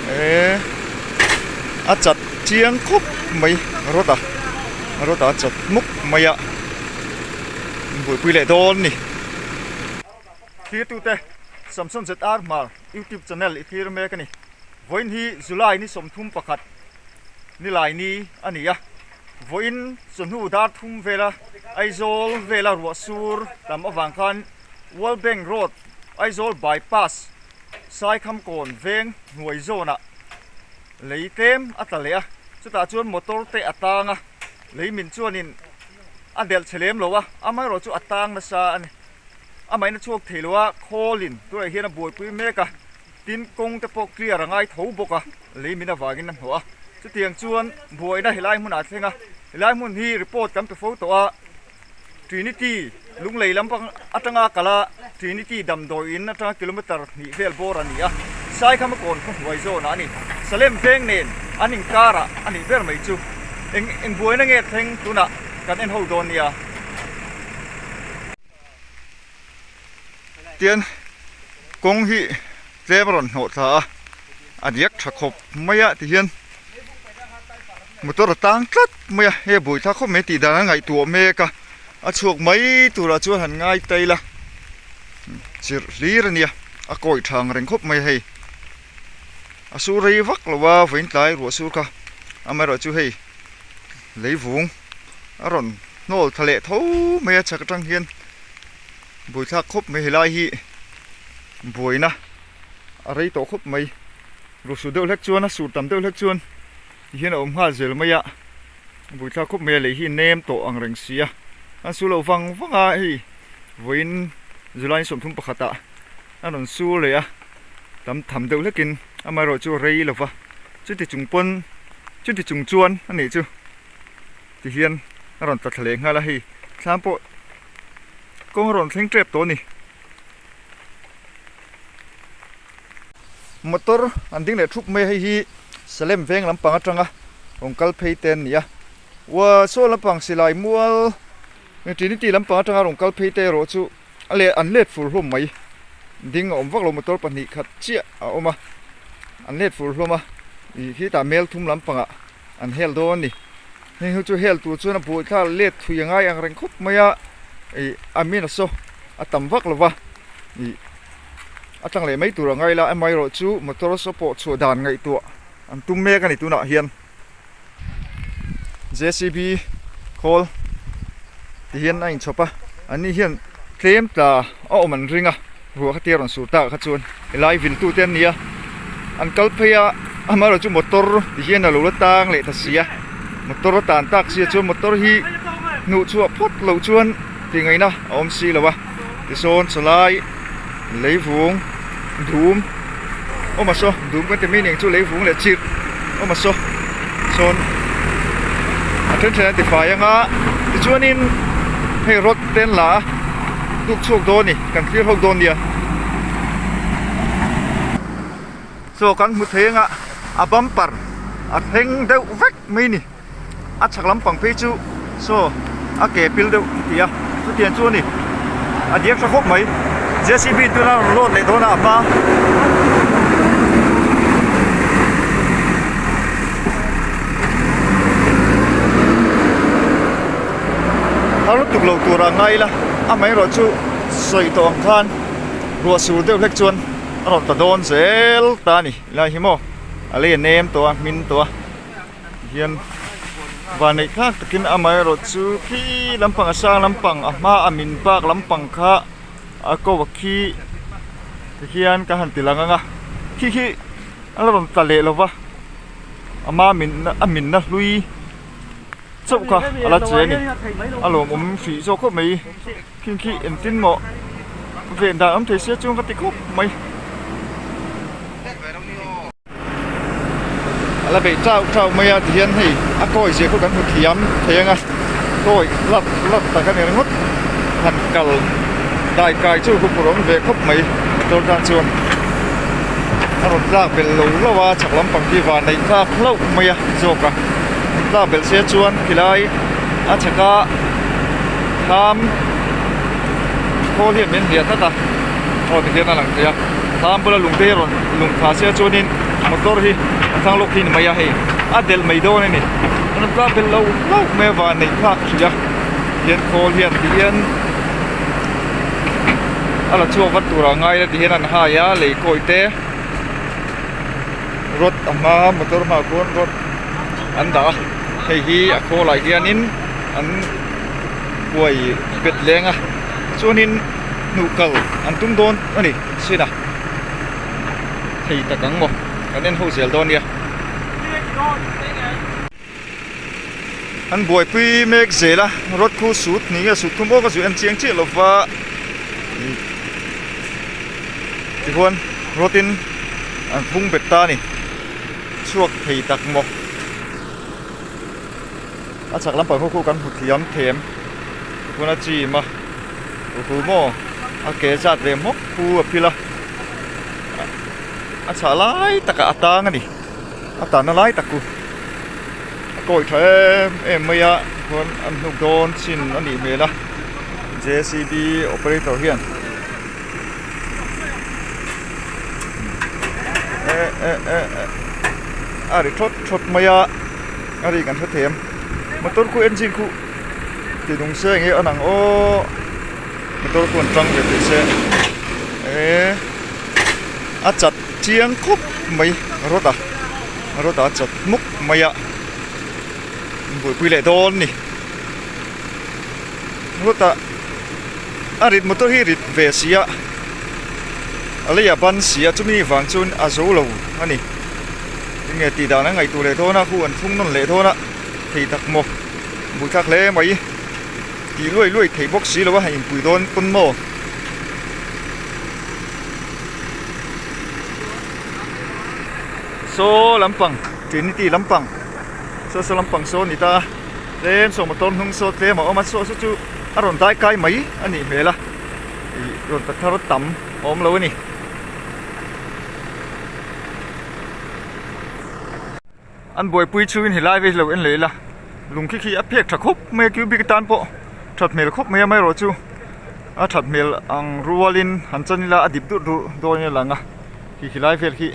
ee a chat chiang khawp mai rod a rod a a chat mup mai a buaipui leh dawn ni thlir tu te samson zr hmar youtube channel i thlir mek a ni vawiin hi july ni sawmthum pakhat ni laini a ni a vawiin sawhnu dar thum vela aizawl vela ruah sur tam avang khan world bank road aizawl bypass Saikhamkawn veng hnuai zawnah lei tlem a tla leh a, chutah chuan motor te a tang a, lei min chuanin a delh chhe lem lo a, amaherawh chu a tang nasa a ni. Amahin a chhuak thei lo a, khawlin tunah hian a buaipui mek a, tin kawng te pawh clear a ngai tho bawk a, lei min avangin a hnawh a. Chutiang chuan buaina helai hmunah a thleng a, helai hmun hi report kan pe fo tawh a, Trinity lunglei lampang atanga kala Trinity damdawi in atanga kilometre hnih vel bawr a ni a, Saikhama kawn khawhnuai zawnah a ni. Salem veng nen an inkarah a nih ber mai chu. Eng eng buaina nge thleng tunah kan en ho dawn nia? Tian kawng hi tlem a rawn hnawh thla a, a riak tha khawp mai a tihian motor a tang tlat mai a, hei a buai thla khawp mai a tih dan a ngaihtuah mek a, a chhuak mai turah chuan han ngai tail a, chirh hlir a nia a kawih thang reng khawp mai a hei, a su rei vak lo a vawiintlai ruah su kha amaherawhchu chu hei leivung a rawn hnawl tha leh tho mai a chak atang hian. Buaithlak khawp mai helai hi buaina a rei tawh khawp mai ruhsut deuh hlek chuan a sur tam deuh hlek chuan ni hian a awm nghal zel mai a buaithlak khawp mai a lei hi nem tawh ang reng si a an sur lo vang vang a hei vawiin July in sawm thum pakhat ah an rawn sur leh a tam tham deuh hlek in amaherawhchu chu a rei lo va chuti chung pawn chuti chung chuan anih chu ti hian a rawn tla thla leh nghal a hei thlang pawh Kawng rawn thleng tep tawh a ni. Motor an ding leh thup mai a, hei hi Salem veng lampang atanga rawn kal phei te an ni a. Warsaw lampang silai mual Trinity lampang atanga rawn kal phei te erawh chu a let an let fur hlawm mai. Ding a awm vak lo motor pahnih khat chiah a awm a, an let fur hlawm a. Ih khitah Melthum lampangah. An hel dawn a ni. Heng ho chu hel tur chuan a buai thlak let thui a ngai ang reng khawp mai a. Ih a min a saw a tam vak lova. Ih a tang leh mai tur a ngai la amaherawh chu motor a saw pawh chhuah dan ngaihtuah an tum mek a ni tunah hian. Jcb khawl ti hian a inchhawp a. An ni hian tlem tla a awm an ring a. Ruah kha tia rawn sur ta kha chuan helai vil tu te an ni a, an kal phei a, ama erawh chu motor ti hian alo la tang leh ta si a, motor a tan tak si a chuan motor hi hnuh chhuah phawt loh chuan tih ngaih na a awm si lo a, tisawn chawlai, leivung, dum. awm a saw dum kan ti mai ning chu lei vung leh chirh awm a saw sawn a then thlen an ti fai ang a tichuanin hei rod te an la a tuk chhuak dawn a ni kan thlir hawk dawn a nia saw kan hmu thei ang a a bumper a thleng deuh vek mai a ni. a chhak lampang phei chu saw a ke phil deuh a ti a chutiang chu a ni a diak tha khawp mai jcb tuna rawn load leh dawn a a pa a lutuk lo tur a ngai ila a hmai erawh chu sawi tawh ang khan ruah sur deuh hlek chuan a rawn ta dawn zel ta a ni lai hi maw a lei a nem tawh a hmin tawh a. hian vanneih thlak takin amah erawh chu khi lampang a sang lampang a hma a min bak lampang kha a ko va khi ti hian ka han ti lang ang a khi khi a la rawn tla leh lo va ama min a min na hlui chauh kha a la che a ni a lawmawm hrih zawk khawp mai khi khi engtin mawh ven dan awm thei sia chuan ka ti khawp mai. a la beih tlau tlau mai a tihian hei a kawi zia kut kan hmu thiam thei anga kawi lat lat tak a ni ringawt han kal dai kai chu hupur awm ve khawp mai motor tan chuan a rawn tlak belh lo lo a chhak lampang khi van a in tlak hlauh mai a zawk a in tlak belh se chuan khilai a chhaka thlam khawl hi a min hliah tlat a aw tihian a lang thei a thlam bula lung te hi a rawn-- lungtha sia chuanin motor hi a thlang lawk hi a ni mai a hei a del mai dawn a ni a nawm tlang vel lo lo mai a van a inthlak hrih a hian khawl hian ti hian a la chhuak vat tur ah a ngai la tih hian an hai a lei kawi te rod a hma motor hmaah khuan rod an dah a hei hi a khawl ah hianin an huai bet leng a chuanin hnukal an tum dawn a ni a hriat ah. thei tak ang maw kan en ho zel dawn nia an buaipui mek zel a rod khu sut ni nge sut thum awka zu en chiang chiah lova tichuan rod in an pung bet ta a ni chhuak thei tak maw. A chhak lampang khawkhuh kan hmu thiam thlem ka pawn a chim a ru ru maw a ke zat ve hmawk pu a phil a a chhah lai takah a tang a ni a tan a lai tak ku a kawih tha em em mai a ka pawn a hnuk dawn chin a nih hmel a J C B operator hian eh eh eh eh a ri thlawt thlawt mai a. a ri kan hre thei em motor khu engine khu tih nung se eng nge an ang aw motor khu an tang ve tih se ee a chat chiang khawp mai rod a rod a chat hmuk mai a inbuaipui leh dawn a ni rod a a rit motor hi rit ve si a a lei a ban si a chumi vang chuan a zo lo a ni. Chu nge tih dan an ngaih tur leh dawn a, khu an chhung nawn leh dawn a, thei tak maw, buaithlak hle mai tih luai luai theih bawk si lo a, in pui dawn pawn maw. Saw lampang Trinity lampang saw saw lampang saw a ni ta a, tlem saw motor hnung saw tlem a awm a, saw saw chu a rawn dai kai mai a nih hmel a, ih rawn ta thar a tam a awm lo a ni. An buaipui chu in helai vek lo en leh ila lung khi khi a phek tha khawp mai a cubic atan pawh that hmel khawp mai a amaherawh chu a that hmel ang rual in han chan ila a dip durh durh dawn in a lang a khi khi lai vel hi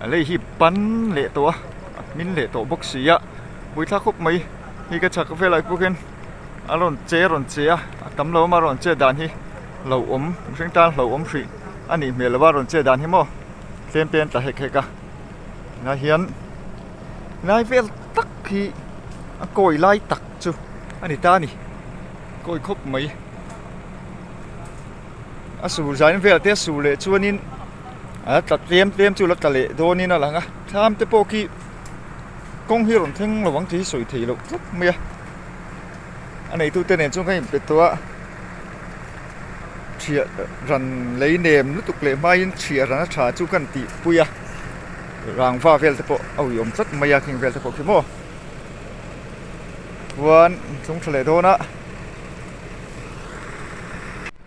a lei hi pan leh tawh a a hmin leh tawh bawk si a buai thla khawp mai hei ka chhak velah pawk hian a rawn che a rawn che a a tam lo ama rawn chet dan hi hlauhawm mihring tan hlauhawm hrih a nih hmel lo a rawn chet dan hi maw. tlem peng ta hek hek a tunah hian lai vel tak hi a kawi lai tak chu a ni ta a ni kawi khawp mai a sul zain vel te a sul leh chuan in a la tla tlem tlem chu a la tla leh dawn in a lang a thlam te pawh khi kawng hi a rawn thleng lo ang tih hi sawi theih loh tlat mai a. a neitute nen chuan ka in pe tawh a ṭhia ran lei nem lutuk leh hmaiin ṭhia ran a ṭha chu ka han tihpui a rangva vel te pawh a uiawm tlat mai a heng vel te pawh khi maw chuan tlungṭha leh dawn a.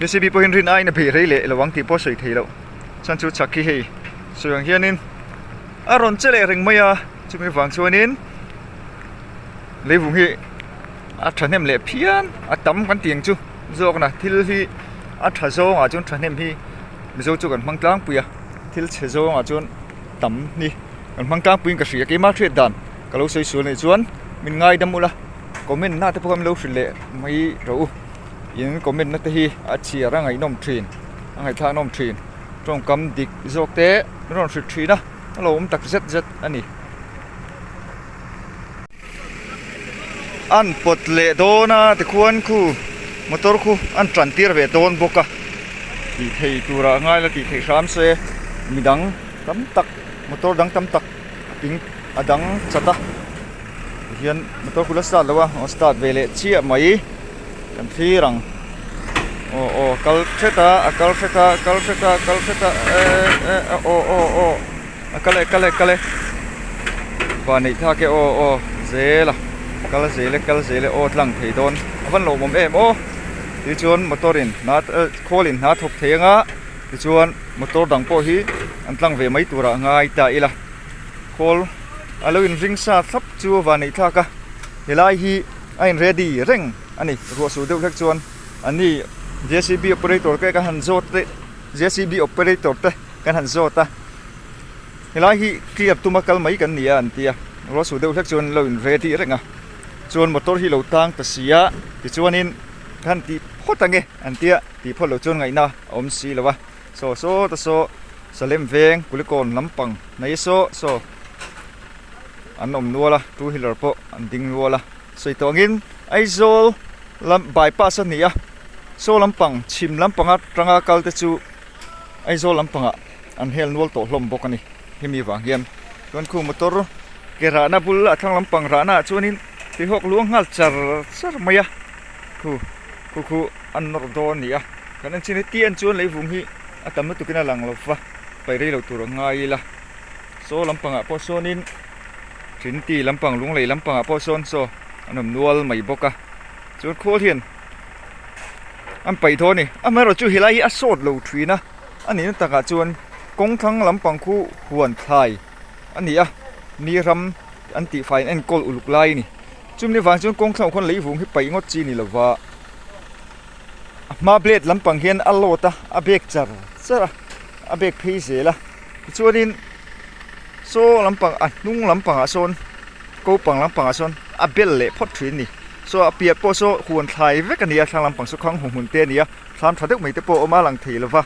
Jcb pawhin rin aina beih rei leh lo ang tih pawh a sawi thei loh. Chuan chu chak hi hei sawi ang hianin a rawn che leh reng mai a, chumi vang chuanin leivung hi a thahnem leh phian a tam kan tih ang chu zawkna thil hi a tha zawngah chuan thahnem hi Mizo chu kan hmang tlangpui a, thil chhe zawngah chuan tam hi kan hmang tlangpui in ka hria, keimah a hriat dan ka lo sawi sual a nih chuan min ngaidam ula comment-na te pawh min lo hrilh leh mai rawh u. in commit na te hi a chhiar a ngaihnawm thin a ngaihthlahnawm thin tawngkam dik zawk te a rawn hrilh thin a a lo awm tak zet zet a ni an pawt leh dawn a tikhuan khu motor khu an ṭantir ve dawn bawk a tih thei tura ngai la tih theih hram se midang tam tak motor dang tam tak a dang chat a. Hian motor kut la start lo a aw start ve leh chiah mai kan thlir ang aw aw kal hret a a kal hret a a kal hret a a kal hret a eh eh a aw aw aw a kal e kal e kal e va neih thlak e aw aw zel a kal zel e kal zel e aw tlang thei dawn a van lo awm em aw tih chuan motor in hna eh khawl in hna thawk thei ang a tichuan motor dang pawh hi an tlang ve mai tur a ngai ta ila. Kawl a lo in ring sa thlap chu a van neih thlak a, helai hi a in ready reng a ni, ruahsû deuh hlek chuan an ni jcb operator te kan han zâwt te jcb operator te kan han zâwt a, helai hi clear tum a kal mai kan ni a an ti a, ruahsû deuh hlek chuan an lo in ready reng a, chuan motor hi lo tâng ta si a tichuanin khan tih phawt ang e an tia tih phawt loh chuan ngaihna a awm si lo a. Saw saw ta saw Salem veng Kulikawn lampang nei saw saw an awm nual a two wheeler pawh an ding nual a sawi tawh angin Aizawl lam bypass a ni a saw lampang chhim lampang atanga kal te chu Aizawl lampangah an hel nual tawh hlawm bawk a ni hemi vang hian chuan khung motor ke rahna bul a thlang lampang rahnaah chuanin tihawk luang nghal char char mai a Khu khu khu an nawr dawn nia kan en chin hi tian chuan leivung hi a tam lutuk in a lang lova pai rei lo tur a ngai ila saw lampang ah pawh sawn in thin ti lampang lung lei lampang ah pawh sawn saw an awm nual mai bawk a chuan khawl hian an pai dawn ni amaherawh amaherawh chu helai hi a sawt lo thin a a nih na tak ah chuan kawng thlang lampang khu huan thlai a ni a ni ram an tih fai in enkawl uluk lai a ni. Chumi vang chuan kawng thlauh khawn leivung hi paih ngawt chi ni lo va, a hma blade lampang hian a load a, a bek char char a, a bek phei zel a. Tichuanin saw lampang a hnung lampangah sawn ko pang lampangah sawn a bel leh phawt thin a ni. Saw a piah pawh saw huan thlai vek a ni a, thlang lampang saw khang hmu hmun te a ni a, thlam tha deuh mai te pawh a awm a, a lang thei lo va.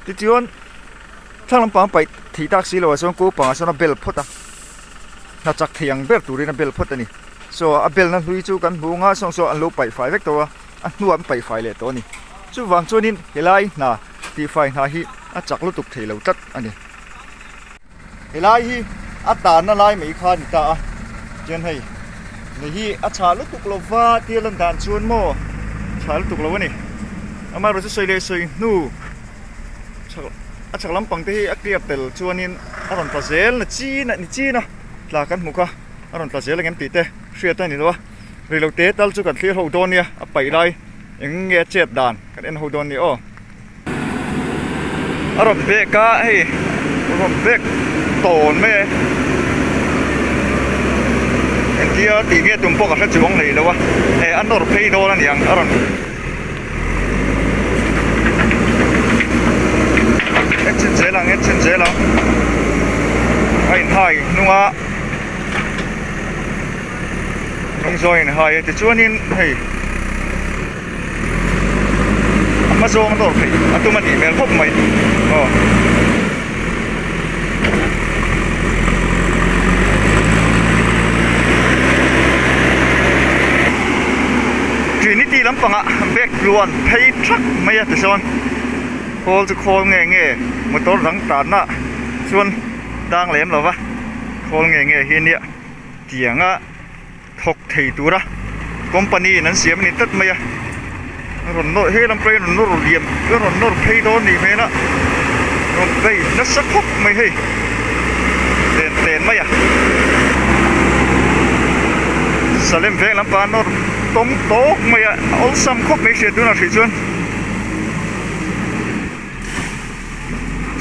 Tichuan thlang lampang a paih thei tak si lohah sawn ko pangah sawn a bel phawt a. hna chak thei ang ber turin a bel phawt a ni. Saw a belna hlui chu kan hmuh anga saw saw an lo paih fai vek tawh a, a hnuah an paih fai leh tawh a ni. Chuvang chuanin helai hna tihfai hna hi a chak lutuk thei lo tlat a ni. Helai hi a tanna lai mai kha a ni ta a, chuan hei ni hi a chhah lutuk lova tirlan dan chuan maw chhah lutuk lo a ni. Amaherawhchu sawi leh sawi hnu. a chhak lampang te hi a clear tel chuanin a rawn tla zel ni chin a ni chin a tla kan hmu kha a rawn tla zel ang em tih te hriat a ni loh a ri lo te tal chu kan thlir ho dawn nia a paih lai eng nge a chet dan kan en ho dawn ni aw a rawn bek a hei a rawn bek tawn mai e engtia tih nge tum pawh ka hre chuang neilo a eh a nawr phei dawn a ni ang a rawn-- engine zel ang engine zel ang a in high hnung a hnung zawng a in high a tichuanin hei a hma zawng a nawr theih a tum a nih hmel khawp mai aw. Trinity lampangah bag tluan phei thak maia tichuan khawl chu khawl nge nge motor dang tarna chuan dang lem lova khawl nge nge hi nia tianga-- thawk thei tura company in an siam a ni tlat mai a a rawn nawr he lam pawhin a rawn nawr liam a rawn nawr phei dawn a nih hmel a rawn kai nasa khawp mai hei len tlen mai a Salem veng lam panga nawr tawng tawk mai a awlsam khawp mai a hria tunah a hrih chuan.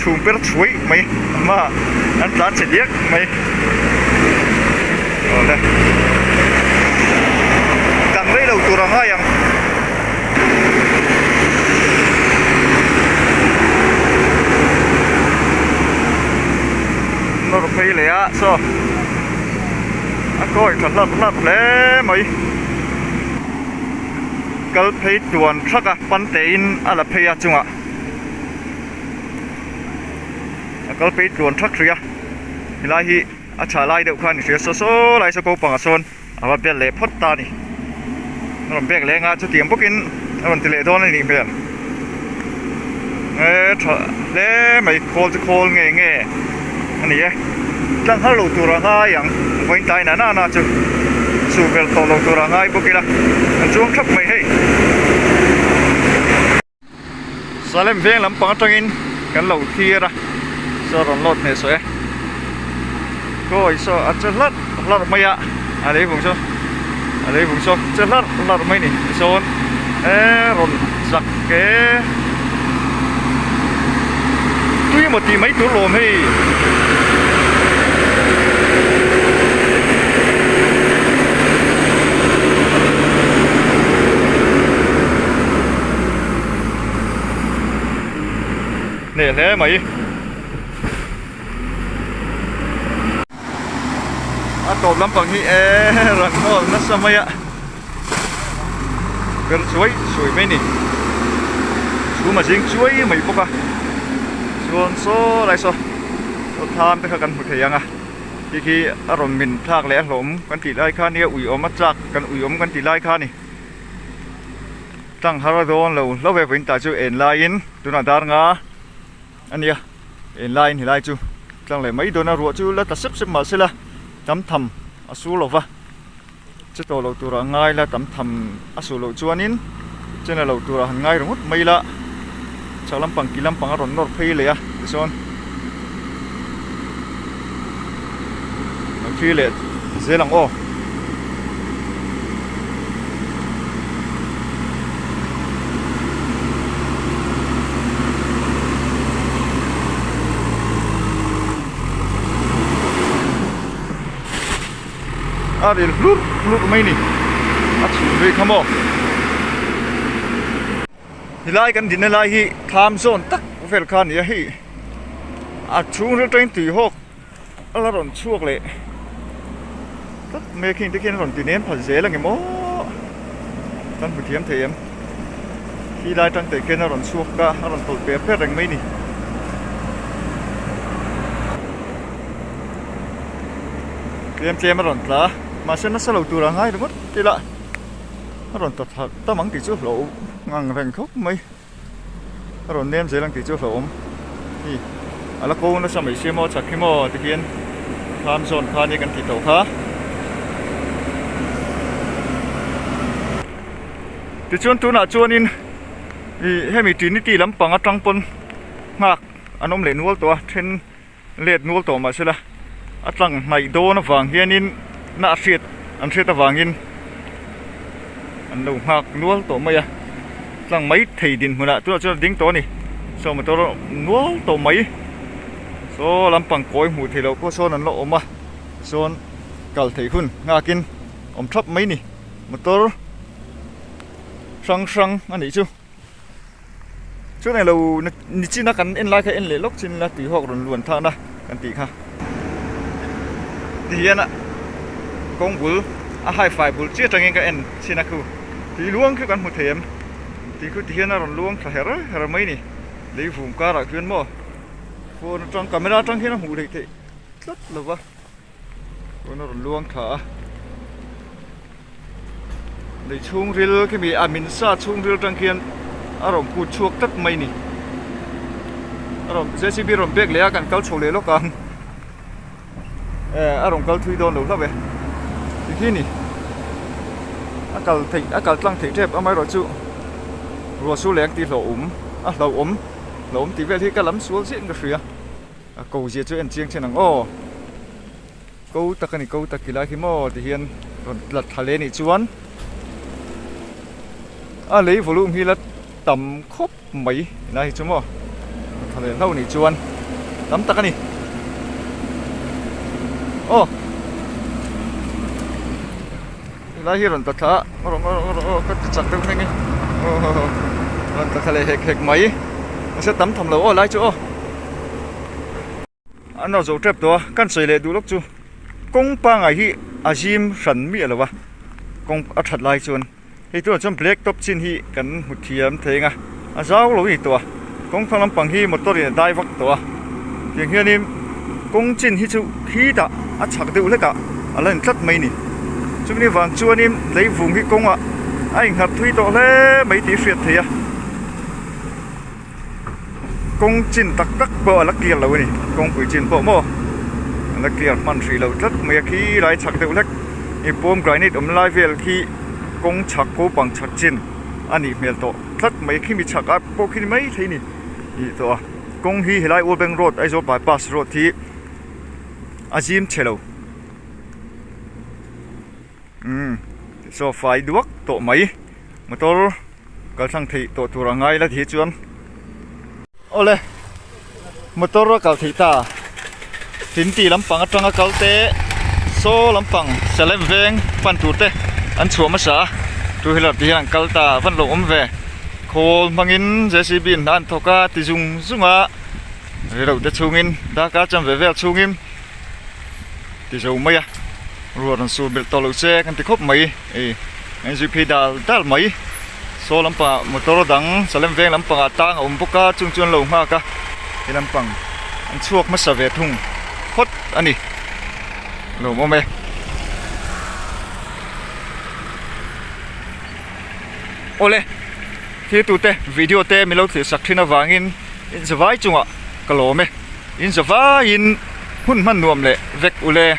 chhung per chhuih mai hma an tla che liak mai awle dang rei lo tur a ngai ang. nawr phei leh a saw a kawi tha hlak hlak hle mai kal phei tuan thak a pan te in a la phei a chungah. a kal phei tluan thak hrih a helai hi a chhah lai deuh kha a ni hria saw saw lai saw ko pangah sawn a va bial leh phawt ta a ni a rawn bek leng a chutiang bawk in a rawn ti leh dawn a nih hmel hee tha hle mai khawl chu khawl nge nge a ni e tlang har lo tur a ngai ang vawiin tlai na na na chu chubel tawh lo tur a ngai bawk ila a chuang thap mai hei. Salem veng lampang atangin kan lo thlir a saw rawn lawt hmeh suh e kawi saw a che hlar hlar mai a a lei vung saw a lei vung saw che hlar hlar mai ni tisawn e rawn zak e tui emaw tih mai tur lawm hei hneh hle mai a tawp lampang hi eee rawn nawr nasa mai a ber suai suai mai a ni chhum a zing chuai mai bawk a chuan saw lai saw saw tham te kha kan hmu thei ang a khi khi a rawn min thlak leh a hlawm kan tih lai kha nia ui awm a chak kan ui awm kan tih lai kha a ni. tanghar a dawn lo hlauh ve pawhin tah chuan en laiin tun a dar nga a nia en laiin helai chu tlang leh mai dawn a ruah chu la ta sep sep mah se la tam tham a su lo va chutawh loh tur ah ngai la tam tham a suh loh chuanin chin a lo tur ah han ngai ringawt mai la. chhak lampang kil lampang a rawn nawr phei leh a tichuan hrui leh zel ang aw. a rilh hlurh hlurh mai a ni a chhun rih kha maw. Helai kan dinna lai hi tham zawn tak vel kha nia hei a chhung vel tawngin tui hawk a la rawn chhuak leh tlat mai khi te khian a rawn ti nem phat zel ange maw kan hmu thiam thei em khi lai tang te khian a rawn chhuak ka a rawn tawlh per per reng mai ni. Tlem tlem a rawn tla a mahse nasa lo tur a ngai ringawt ila. a rawn ta tha tam ang tih chu hlauh ngang reng khawp mai a rawn nem zel ang tih chu hlauhawm hi a la ko nasa mai se maw chak hi maw ti hian lam zawn kha ania kan tih tawh kha tichuan tunah chuanin ih hemi trinity lam panga tang pawn nghak an awm leh nual tawh a then-- let nual tawh mah sela a tlang hnaih dawn avang hianin na a hriat an hriat avangin an lo nghak nual tawh mai a tlang mai thei dinhmunah tunah chuan a ding tawh a ni saw motor nual tawh mai saw lampang kawi hmuh theih loh pawh sawn an la awm a tisawn kal theih hun nghakin awm thap mai a ni motor hrang hrang a nih chu. Chu nei lo ni chin a kan en lai kha en leh lawk chin ila tui hawk rawn luan than a kan tih kha ti hian a kawng bul a hai fai bul chiah tangin ka en chhin a khu tui luang khiu kan hmu thei em tui khu ti hian a rawn luang thla her her mai ni lei vum karah khian maw phone atang camera atang khian a hmuh leh theih tlat lo va. Pawn a rawn luang thla a. Nei chhungril khemi a min sa chhungril tang khian a rawn put chhuak tlat mai ni. A rawn JCB rawn bag leh a kan kal chho leh lawk ang. E a rawn kal thui dawn lo hlauh e. Ti khi ni. A kal thei a kal tlang thei tep amaherawh chu ruah su leng ti hlawh awm a hlauh awm hlauh awm tih vel hi ka lam sual zin ka hria. A ko zia chu en chiang thin ang aw. Ko tak a ni ko tak ila hi maw ti hian rawn tlat tha leh nih chuan a lei volume hi la tam khawp mai ila hi chu maw rawn tha leh hlauh nih chuan tam tak a ni aw. Helai hi rawn ta thla a, a rawh a rawh a, ka ti chak deuh meng e, aw rawn ta thla leh hek hek mai, mahse tam tham lo aw helai chu aw. An lo zo tep tawh a, kan sawi leh duh lawk chu, kawng pangai hi a zim hran miah lo a, kawng a that lai chuan, hei tunah chuan black top chin hi kan hmu thiam theng a. a zau lo a ni tawh a kawng phang lampang hi motor in a dai vak tawh a tiang hian in kawng chin hi chu khi tah a chhak deuh hlek ah a la in tlat mai a ni chu ni vang chuan in leivung hi kawng ah a in nghat thui tawh hle mai tih hriat theih a kawng chin tak tak pawh a la clear lo a ni kawngpui chin pawh maw a la clear hman hrih loh tlat mai a khi lai chhak deuh hlek i bawm granite awm lai vel khi kawng chhak ko pang chhak chin a nih hmel tawh. tlat mai khi mi chhak a pawh khi mai thle ni tih tawh a kawng hi he lai Urbeng road Aizawl bypass road hi a zim che lo umm so fai duak tawh mai motor kaltlang theih tawh tur a ngai la tih hi chuan awle. Motor a kal theih ta, Tinti lampang atanga kal te, saw lampang sia lem veng pan tur te an chhuah hmasa a, two wheeler te hian an kal ta van lo awm ve. Khawl hmangin jcb in hna an thawk a, ti zung zung a rilru te chungin darkar cham ve vel chungin ti zo mai a, ruat rawn sulmelh tawh loh che kan ti khawp mai. Hei NGP dal dal mai saw lampangah motor dang salem veng lampangah tang a awm bawk a chung chu an lo nghak a he lampang an chhuak hmasa ve thung phawt a ni a lo awm awm e. Awle thlir tute video te min lo thlirsak thin avangin inzavai chungah ka lawm e. Inza vaiin hmun hman nuam leh vek ule.